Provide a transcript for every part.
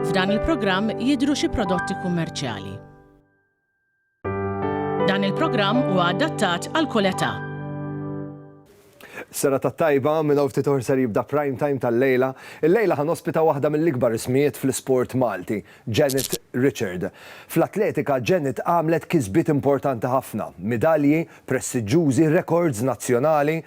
F'dan il-programm jidhru xi prodotti kummerċjali. Dan il-programm huwa adattat għal kull età. Sena ta' tajba minn hawn ftit oħra ser jibda prime time tal-lejla. Il-lejla ħan ospita waħda mill-ikbar ismijiet fl-isport Malti. Janet Richard. Fl-atletika, Janet għamlet kisbiet importanti ħafna, midalji, prestiġġużi, rekords nazzjonali.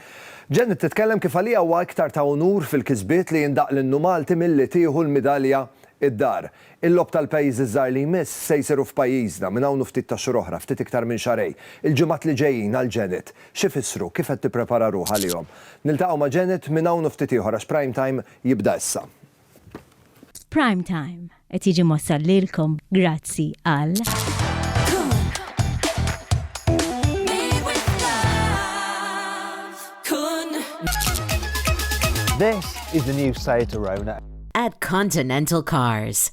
Janet titkellem kif għaliha huwa iktar ta' unur fil-kisbiet li jindaqq l-innu Malti milli tieħu l-midalja d-dar. Il-Logħob tal-Pajjiżi ż-Żgħar li jmiss se jsiru f'pajjiżna, minn hawn u ftit tax-xhur oħra, ftit iktar minn xahrejn. Il-ġimgħat li ġejjin għal Janet, x'ifissru, kif qed tipprepara ruħha għalihom? Niltaqgħu ma' Janet minn hawn u ftit ieħor għax Prime Time jibda issa. Prime Time qed jiġi mossal lilkom grazzi għal. This is the new site to Rona. At Continental Cars.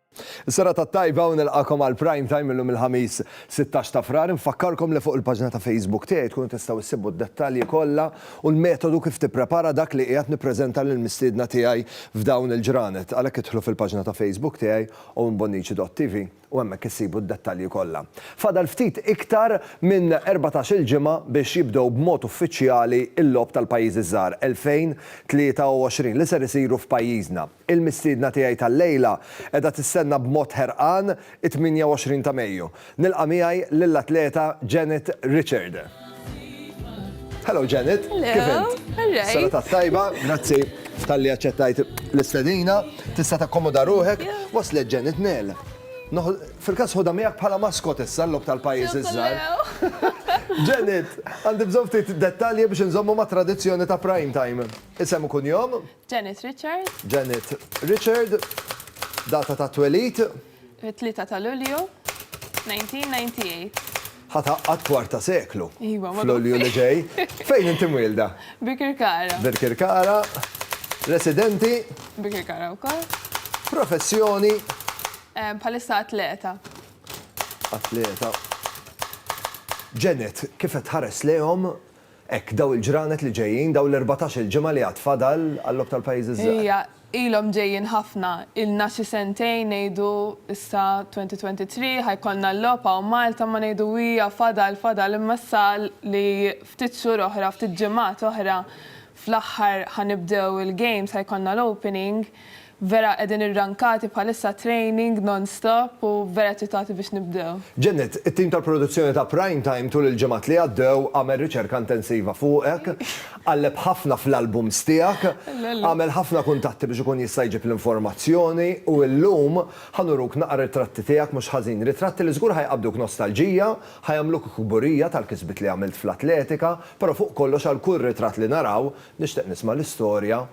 Is-serata t-tajba u nilqakom għal Prime Time illum il-Ħamis 16 ta' Frar. Infakkarkom li fuq il-paġna ta' Facebook tiegħi tkunu tistgħu ssibu d-dettalji kollha u l-metodu kif tipprepara dak li qiegħed nippreżenta lill-mistiedna tiegħi f'dawn il-ġranet. Għalhekk idħlu fil-paġna ta' Facebook tiegħi owenbonnici.tv u hemmhekk issibu d-dettalji kollha. Fadal ftit iktar minn 14-il ġimgħa biex jibdew b'mod uffiċjali l-Logħob tal-Pajjiżi ż-Żgħar 2023 li ser isiru f'pajjiżna. Il-mistiedna tiegħi tal-lejla qiegħda tistenna b'mod ħerqan it-28 ta' Mejju. Nilqa' miegħi lill-atleta Janet Richard. Hello Janet, kif int? Hello, all right. Sena tat-tajba, grazzi talli aċċettajt l-istedina. Tista' takkomoda ruħek. Waslet Janet Nel. Fil-każ ħodha miegħek bħala maskot issa l-logħob tal-pajjiż iż-żgħar. Janet, għandi bżonn ftit dettalji biex inżommu mat-tradizzjoni ta' Prime Time. Isem u kunjom? Janet Richard. Janet Richard. Data ta' twelid. It-tlieta ta' Lulju, 1998. Ħa tgħaqqad kwarta seklu. Iva, ma tgħaqqadx. F'Lulju li ġej. Fejn inti mwielda? Birkirkara. Birkirkara. Residenti? Birkirkara wkoll. Professjoni? Bħalissa atleta. Atleta. Janet, kif qed tħares lejhom Hekk, dawn il-ġranet li ġejjin, dawn l-erbatax-il ġimgħa li għad fadal għal-Logħob tal-Pajjiżi ż-Żgħar. Ija, ilhom ġejjin ħafna. Ilna xi sentejn ngħidu, issa 2023, ħa jkollna l-Logħob hawn Malta, ma ngħidu ija, fadal, fadal, imma issa li ftit xhur oħra, ftit ġimgħat oħra, fl-aħħar ħa nibdew il-games, ħa jkollna l-opening, Vera qegħdin irrankati bħalissa training non stop u vera eċċitati biex nibdew. Janet, it-tim tal-produzzjoni ta' Prime Time tul il-ġimgħat li għaddew għamel riċerka intensiva fuqek, qalleb ħafna fl-albums tiegħek, għamel ħafna kuntatti biex ikun jista' jġib l-informazzjoni u illum ħa nuruk naqra ritratti tiegħek mhux ħażin, ritratti li żgur ħa jqabbduk nostalġija, ħa jagħmluk kburija tal-kisbiet li għamilt fl-atletika, però fuq kollox għal kull ritratt li naraw nixtieq nisma' l-istorja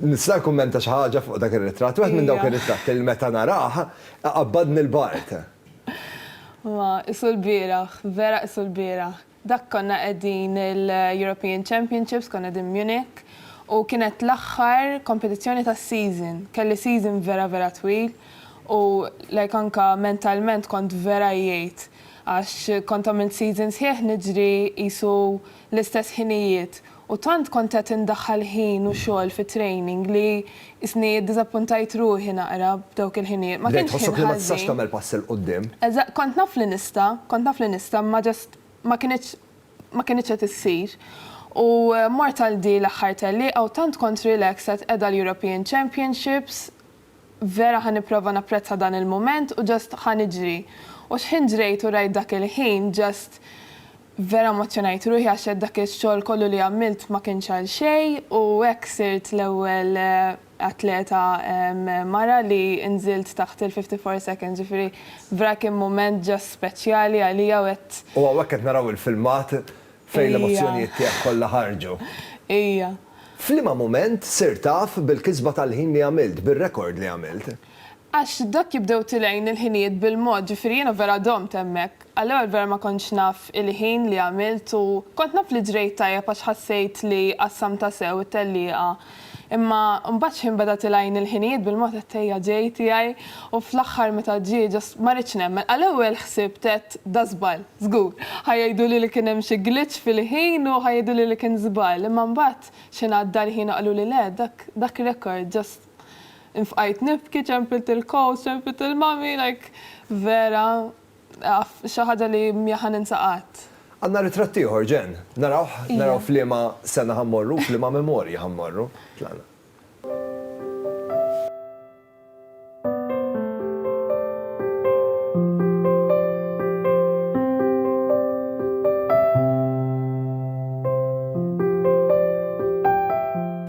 Nista' nikkummenta xi ħaġa fuq dak ir-ritratt? Wieħed minn dawk ir-ritratti li meta narah, iqabbadni l-bard. Ma qisu l-bieraħ, vera qisu l-bieraħ. Dak konna qegħdin l-European Championships, konna qegħdin Munich, u kienet l-aħħar kompetizzjoni tas-season. Kelli season vera vera twil u like anke mentalment kont vera għejjejt għax kont għamilt season sħiħ niġri qisu l-istess ħinijiet. U tant kont qed indaħħal ħin u xogħol fit-training li qisni iddiżappuntajt ruħi naqra b'dawk il-ħinijiet. Ma Bdejt kienx tħossok ħin li ma tistax ħażin. tagħmel pass 'il quddiem. Eżatt, kont naf li nista', kont naf li nista' imma just ma kinitx ma kinitx qed issir. U mort għal di l-aħħar tellieqa u tant kont relaxed qed qeda l-European Championships Vera ħa nipprova napprezza dan il-mument u just ħa niġri. U xħin ġrejt u rajt dak il-ħin just vera emozzjonajt ruħi għax għedt dak ix-xogħol kollu li għamilt ma kienx għal xejn u hekk sirt l-ewwel atleta mara li nżilt taħt il-fifty four seconds ġifieri vera kien mument just speċjali għalija u għedt U hawnhekk qed naraw il-filmat fejn l-emozzjonijiet tiegħek kollha ħarġu. Ija. F'liema mument sirt taf bil-kisba tal-ħin li għamilt, bir-rekord li għamilt? Għax dak jibdew tilgħin il-ħinijiet bil-mod, ġifieri jiena vera domt hemmhekk. Għall-ewwel vera ma kontx naf il-ħin li għamilt u kont naf li ġrejt tajjeb għax ħassejt li qassamtha sew it-tellieqa. Imma mbagħad x'ħin beda tilgħin il-ħinijiet bil-mod għedt ejja ġej tiegħi. U fl-aħħar meta ġie ġo ma ridtx nemmen. Għall-ewwel ħsibt għedt da żball, żgur. Ħa jgħiduli li kien hemm xi glitch fil-ħin u ħa jgħiduli li kien żball. Imma mbagħad x'ħin għadda l-ħin u qaluli le, dak, dak record just. Infqajt nibki, ċempilt il-coach, ċempilt il-mummy, like vera xi ħaġa li mhi ħa ninsa qatt. Għandna ritratt ieħor, Jen. Narawh, naraw f'liema sena ħa mmorru u f'liema memorji ħa mmorru. Tlaqna.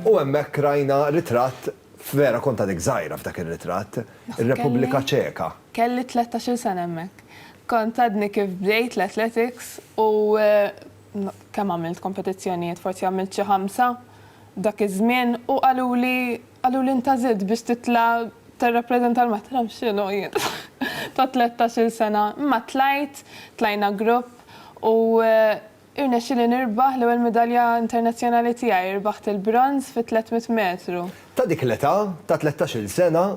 U hemmhekk rajna ritratt vera kont għadek żgħira f'dak ir-ritratt, ir-Repubblika Ċeka. Kelli tlettax-il sena hemmhekk. Kont għadni kif bdejt l-athletics u kemm għamilt kompetizzjonijiet, forsi għamilt xi ħamsa dak iż-żmien u qaluli qaluli inta żidt biex titla' tirrappreżenta ma nafx x'inhu jien ta' tlettax-il sena. Imma tlajt, tlajna grupp u irnexxieli nirbaħ l-ewwel midalja internazzjonali tiegħi, rbaħt il-bronż fit-300 metru. Ta' dik l-età, ta' tlettax-il sena,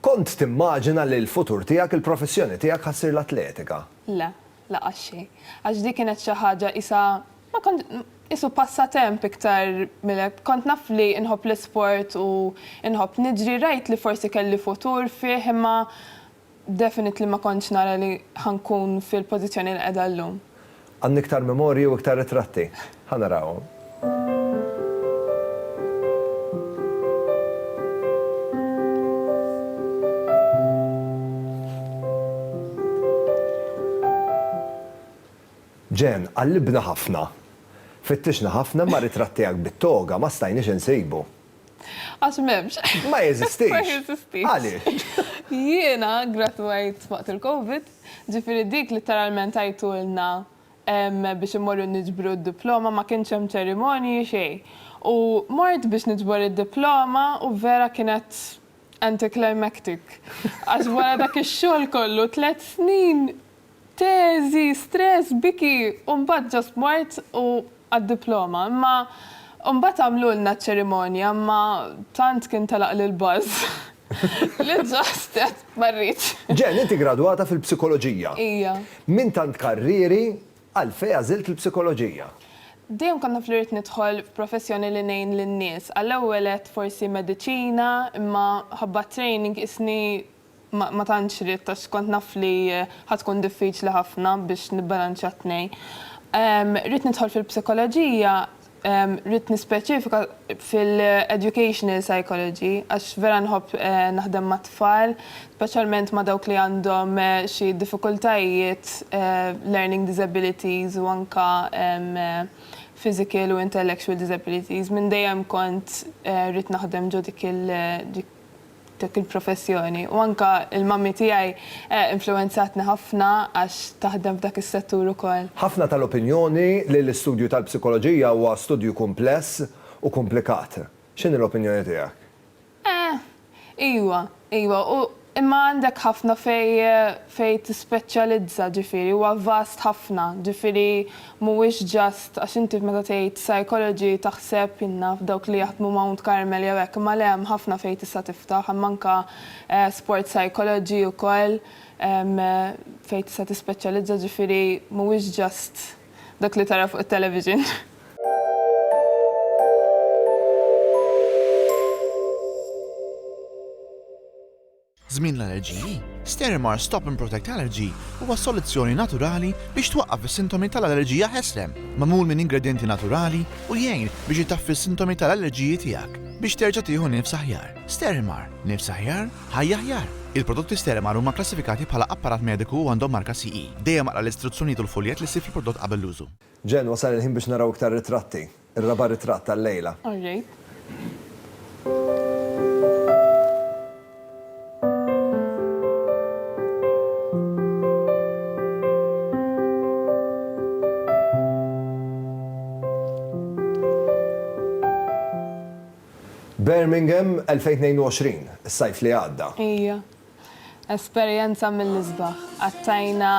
kont timmaġina li l-futur tiegħek, il-professjoni tiegħek ħa ssir l-atletika? Le. Laqas xejn. Għax dik kienet xi ħaġa qisha ma kont qisu passatemp iktar mill hekk. Kont naf li nħobb l-isport u nħobb niġri, rajt li forsi kelli futur fih imma definitely ma kontx nara li ħa nkun fil-pożizzjoni li qiegħda llum. Għandni iktar memorji u iktar ritratti. Ħa narawhom. Jen, qallibna ħafna. Fittixna ħafna imma r-ritratt tiegħek bit-toga ma stajniex insibu. Għax m'hemmx. Ma jeżistix. Ma jeżistix. Għaliex? Jiena gradwajt waqt il-Covid, ġifieri dik litteralment għidtulna biex immorru niġbru d-diploma, ma kienx hemm ċerimonji, xejn. U mort biex niġbor id-diploma u vera kienet anticlimactic. Għax wara dak ix-xogħol kollu, tliet snin, teżi, stress, biki, u mbagħad just mort u għad-diploma. Imma mbagħad għamlulna ċ-ċerimonja, imma tant kien telaqli l-buzz. Li ġastet, ma rridx. Jen, inti gradwata fil-psikoloġija. Ija. Minn tant karrieri, għalfej għażilt il-psikoloġija? Dejjem kont naf li rrid nidħol f'professjoni li ngħin lin-nies. Għall-ewwel għedt forsi mediċina, imma ħabba t-training qisni ma tantx ridt għax kont naf li ħa tkun diffiċli ħafna biex nibbalanċja t-tnejn. Rrid nidħol fil-psikoloġija Ridt nispeċifika fil-educational psychology għax vera nħobb naħdem mat-tfal, speċjalment ma' dawk li għandhom xi diffikultajiet, learning disabilities u anke physical u intellectual disabilities. Minn dejjem kont ridt naħdem ġo dik dik il-professjoni u anke l-mommy tiegħi influwenzatni ħafna għax taħdem f'dak is-settur ukoll. Ħafna tal-opinjoni li l-istudju tal-psikoloġija huwa studju kumpless u kumplikat. X'inhi l-opinjoni tiegħek? Eh, iwa, iwa, u imma għandek ħafna fejn fejn tispeċjalizza, ġifieri huwa vast ħafna, ġifieri Mhuwiex ġast għax inti meta tgħid psychology taħseb, jien naf, dawk li jaħdmu Mount Carmel jew hekk, imma le hemm ħafna fejn tista' tiftaħ, hemm anke sport psychology ukoll fejn tista' tispeċjalizza, ġifieri mhuwiex ġast dak li tara fuq it-television. Żmien l-allerġiji, Stérimar Stop and Protect Allergy huwa soluzzjoni naturali biex twaqqaf is-sintomi tal-allerġija ħeslem, magħmul minn ingredjenti naturali u jgħin biex itaffi s-sintomi tal-allerġiji tiegħek biex terġa' tieħu nifs aħjar. Stérimar, nifs aħjar, ħajja aħjar! Il-prodotti Stérimar huma kklassifikati bħala apparat mediku u għandhom marka CE. Dejjem aqra l-istruzzjonijiet u l-fuljett li ssib fil-prodott qabel l-użu. Jen, wasal il-ħin biex naraw iktar ritratti. Ir-raba' ritratt tal-lejla. All right. Birmingham 2022, is-sajf li għadda. Ejja. Esperjenza mill-isbaħ. Qattajna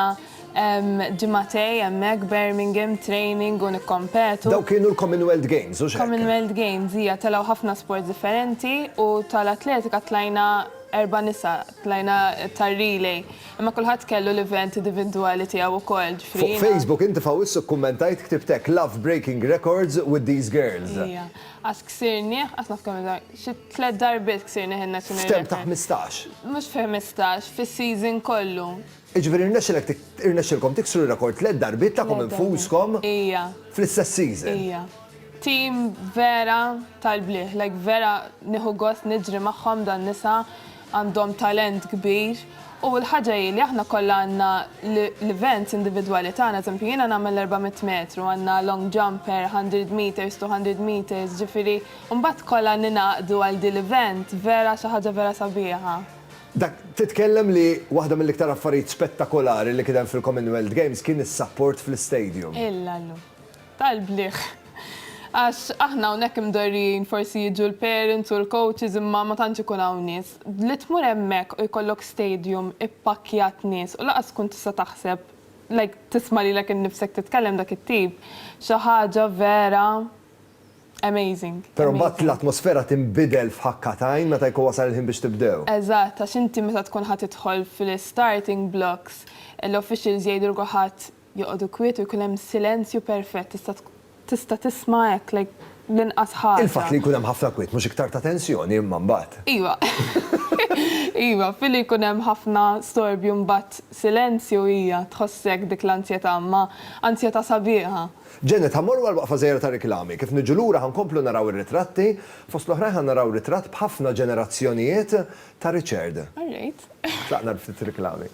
ġimgħatej hemmhekk Birmingham, training u nikkompetu. Dawk kienu l-Commonwealth Games, hux hekk? Commonwealth Games, hija, telgħu ħafna sports differenti u tal-atletika tlajna erba' nisa, tlajna tar-relay. Imma kulħadd kellu l-event idivindwali tiegħu wkoll, ġifieri jiena. Fuq Facebook inti f'Awwissu kkummentajt, ktibt hekk, Love breaking records with these girls. Hija. Qatt ksirnieh, qatt naf kemm xi. Tliet darbiet ksirni ħin nazzjonali. F'term ta' ħmistax? Mhux fi ħmistax, fis-season kollu. Jiġifieri rnexxilek irnexxilkom tiksru r-rekord tliet darbiet tagħkom infuskom? Ija. Fl-istess season? Ija. Team vera tal-blieh, like vera nieħu gost niġri magħhom dan nisa Għandhom talent kbir u l-ħaġa hi li aħna kollha għandna l-events individwali tagħna, eżempju jiena nagħmel l-erba' mitt metru, għandna long jumper, hundred metres, two hundred metres, ġifieri mbagħad kollha ningħaqdu għal din l-event vera xi ħaġa vera sabiħa. Dak, titkellem li waħda mill-iktar affarijiet spettakolari li kien hemm fil-Commonwealth Games kien is-sapport fl-istadium. Illallu. tal-bliħ. Għax aħna hawnhekk imdorrijin forsi jiġu l-parents u l-coaches imma ma tantx ikun hawn nies. Li tmur hemmhekk u jkollok stadium ippakkjat nies u lanqas tkun tista' taħseb like tisma' lilek innifsek titkellem dak it-tip xi ħaġa vera amazing. Però mbagħad l-atmosfera tinbidel f'ħakka t'għajn meta jkun wasal il-ħin biex tibdew. Eżatt, għax inti meta tkun ħa tidħol fl-starting blocks l-officials jgħidulk u ħadd Joqogħdu kwiet u jkun hemm silenzju perfett, tista' tista' tisma' hekk like l-inqas ħaġa. Il-fatt li jkun hemm ħafna kwiet mhux iktar ta' tensjoni imma mbagħad? Iva. Iva, filli jkun hemm ħafna storbju mbagħad silenzju hija tħossek dik l-anzjetà imma anzjetà sabiħa. Janet, ħa mmorru għal waqfa żgħira ta' riklami. Kif niġu lura ħa nkomplu naraw ir-ritratti, fost l-oħrajn ħa naraw ritratt b'ħafna ġenerazzjonijiet ta' Richard. All right. Tlaqna għal ftit riklami.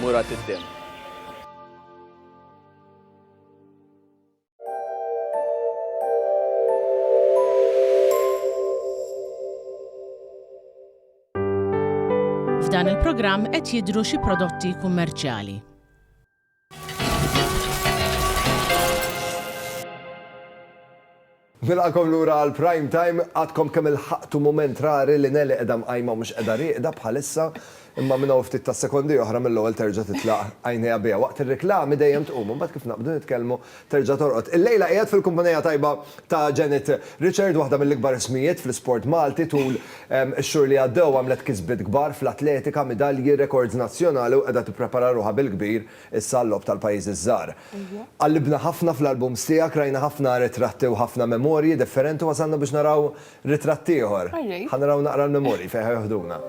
Murat id-demm. F'dan il-programm qed jidhru xi prodotti kummerċjali. Nilqagħkom lura għal Prime Time. Għadkom kemm ilħaqtu mument rari li Nelly qiegħda mqajma u mhux qiegħda rieqda bħalissa, imma minn hawn ftit tas-sekondi oħra mill-ewwel terġa' titlaq għajnejha biha. Waqt ir-riklami dejjem tqum, imbagħad kif naqbdu nitkellmu terġa' torqod. Illejla qiegħed fil-kumpanija tajba ta' Janet Richard, waħda mill-ikbar ismijiet fl-isport Malti. Tul ix-xhur li għaddew għamlet kisbiet kbar fl-atletika, midalji, rekords nazzjonali u qiegħda tipprepara ruħha bil-kbir Issa l-logħob tal-pajjiżi ż-żgħar. Qallibna ħafna fl-albums tiegħek, rajna ħafna ritratti u ħafna memorji differenti u wasalna biex naraw ritratt ieħor. Ħa naraw naqra l-memorji fejn ħa joħduna.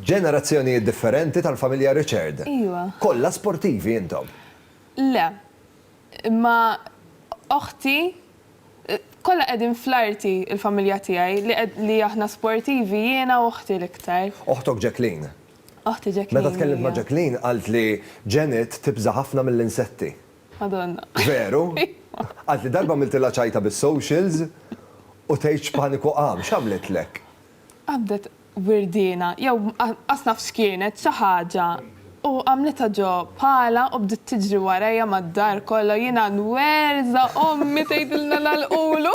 Ġenerazzjonijiet differenti tal-familja Richard. Kollha sportivi intom. Le. Imma oħti, kollha qegħdin fl-arti il-familja tiegħi li aħna sportivi jiena u oħti l-iktar. Oħtok Jacqueline. Oħti Jacqueline. Meta tkellimt ma' Jacqueline qalt li Janet tibża' ħafna mill-insetti. Madonna. Veru? Qalt li darba għamiltilha ċajta bis-socials u tgħidx paniku qam. X'għamlitlek? Qabdet wirdiena, jew qas naf x'kienet, xi ħaġa, u għamlitha ġo pala u bdiet tiġri warajja mad-dar kollha, jiena nwerża' ommi tgħidilna nagħlqulu.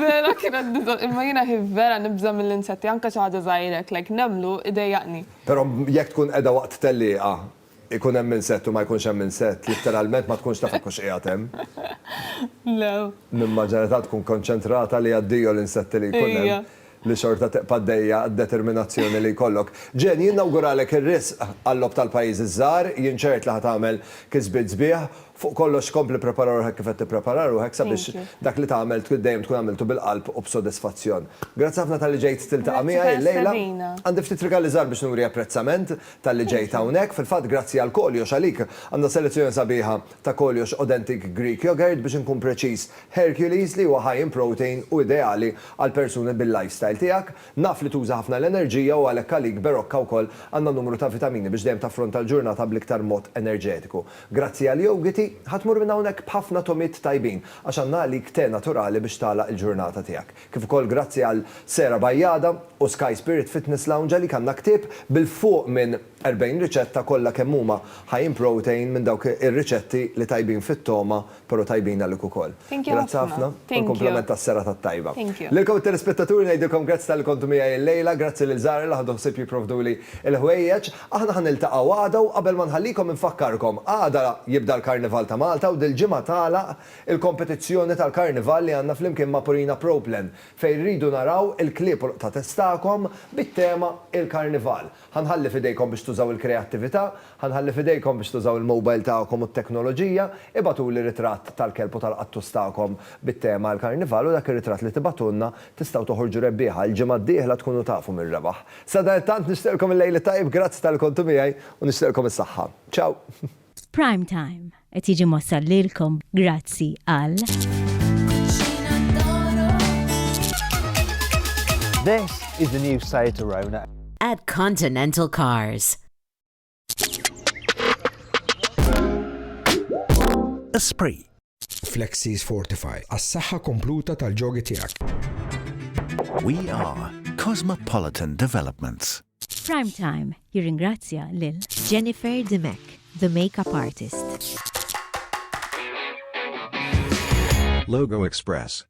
Vera kienet biża', imma jiena hi vera nibża' mill-insetti, anke xi ħaġa żgħira hekk like nemlu jdejjaqni. Però jekk tkun qiegħda waqt tellieqa Ikun hemm insett u ma jkunx hemm insett, litteralment ma tkunx taf jekk hux qiegħed hemm. Le. Nimmaġina li tant tkun konċentrata li addio l-insetti li jkun hemm. Ija. Li xorta tibqa' għaddejja d-determinazzjoni li jkollok. Jane, jien nawguralek ir-riżq għal-Logħob tal-Pajjiżi ż-Żgħar, jien ċert li ħa tagħmel kisbiet sbieħ. Fuq kollox kompli pprepara ruħek kif qed tipprepara ruħek sabiex dak li tagħmel tkun dejjem tkun għamiltu bil-qalb u b'sodisfazzjon. Grazzi ħafna talli ġejt tiltaqa' miegħi llejla. Grazzi tal-istedina. Għandi ftit rigali żgħar biex nuri apprezzament. talli ġejt hawnhekk. Fil-fatt grazzi għal koljox, għalik, għandna selezzjoni sabiħa ta' koljox Authentic Greek Yogurt, biex inkun preċiż, Hercules, li huwa high in protein u ideali għal persuni bil-lifestyle tiegħek. Naf li tuża ħafna l-enerġija u għalhekk għalik Berocca wkoll għandna numru ta' vitamini biex dejjem taffronta l-ġurnata bl-iktar mod enerġetiku. Grazzi għal jowgiti, ħa tmur minn hawnhekk b'ħafna togħmiet tajbin, għax għandna għalik te naturali biex tagħlaq il-ġurnata tiegħek. kif ukoll grazzi għal Sarah Bajada u Sky Spirit Fitness Lounge għalik għandna ktieb bil fuq minn 40 riċetta kollha kemm huma high in protein minn dawk ir-riċetti li tajbin fit-togħma pero tajbin għalik ukoll. Grazzi ħafna u l-kumplament tas-serata t-tajba. Lilkom it-telespettaturi ngħidilkom grazzi talli kontu miegħi l-lejla, grazzi lil Zahra li ħadu ħsieb jipprovduli l-ħwejjeġ. Aħna ħa niltaqgħu għada u qabel ma nħallikom infakkarkom għada jibda l-Karnival ta' Malta u dil-ġimgħa tagħlaq Il-kompetizzjoni tal-Karnival li għandna flimkien ma' Purina Pro Plan fejn rridu naraw il-klieb u l-qtates tagħkom bit-tema Il-Karnival. Ħa nħalli f'idejkom biex tużaw il-kreattività, ħa nħalli f'idejkom biex tużaw il-mobile tagħkom u t-teknoloġija, ibagħtuli ritratt tal-kelb u tal-qattus tagħkom bit-tema Il-Karnival u dak ir-ritratt li tibagħtulna tistgħu toħorġu rebbieħa, il-ġimgħa d-dieħla tkunu tafu min rebaħ. Sadanittant nixtieqlkom il-lejl it-tajjeb, grazzi talli kontu miegħi u nixtieqlkom is-saħħa. Ciao! Prime Time qed jiġi mossal lilkom grazzi għal. This is the new Seat Arona. At Continental Cars. Esprit. Flexies Fortify għas-saħħa kompluta tal-ġogi tiegħek. We are Cosmopolitan Developments. Prime Time jirringrazzja lil Jennifer Dimech, the makeup artist. Logo Express.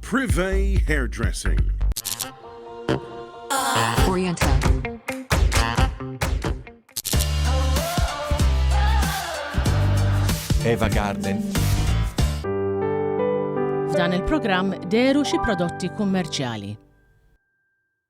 Privé Hairdressing. Orienta. Eva Garden. F'dan il-programm deru xi prodotti kummerċjali.